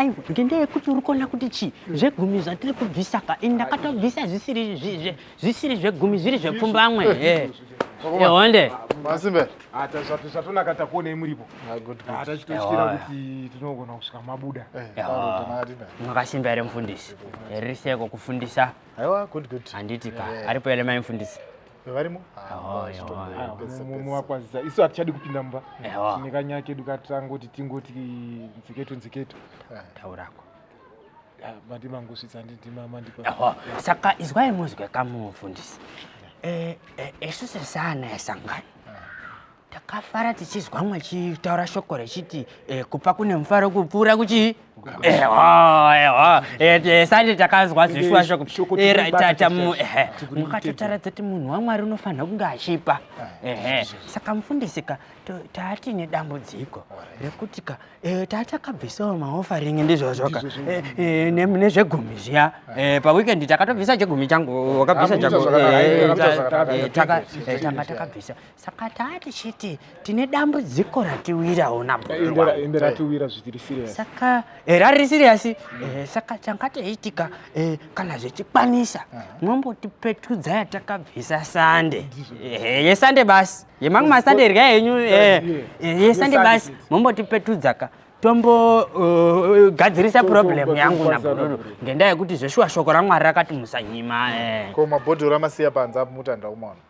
aiwa ngendaa yekuti uri kuona kuti chii hmm. zvegumi zvatiri kubvisa ka ini ndakatobvisa zvisiri zvegumi zviri zvepfumbamwe honde masimbe zvatonaka takuonei muripo tachitotyira kuti tinogona kusvika mabuda mwakasimba here mufundisi ririseko kufundisa handiti ka aripo here mai mufundisi varimo muwakwazisa isu hatichadi kupinda mumba tine kanyaya kedu katangoti tingoti nziketo nziketo eh. taurako ah, mati mangosvitsa ndidimamandikwa saka izwai muzwe kamufundisi eh, eh, isu sesana esangani takafara tichizwa mwachitaura shoko rechiti eh, kupa kune mufaro kupfuura kuchii ehwa ehwa eh, sande takazwa zvishuwa shoko tata mukatotaura dzati munhu wamwari unofanira kunge achipa ehe saka mufundisika taati nedambudziko rekuti ka eh, tatakabvisawo maofaring ndizvozvoka nezvegumi zviya paweekend takatobvisa chegumi changu wakabvisa chako tanga takabvisa Saka taa tichiti tine dambudziko ratiwirawo naende ratiwira zvitiri serious. Saka eh, rari serious eh, saka changa teiitika eh, kana zvichikwanisa mwombotipetudza yatakabvisa sande eh, yesande basi yemamwe masande irya henyu eh, eh, yesande basi mombotipetudza ka tombogadzirisa uh, uh problem yangu nabhururu ngendaa yekuti zveshuwa shoko ramwari rakati musanyima eh. ko mabhodhoro amasiya panze apo mutanda umwana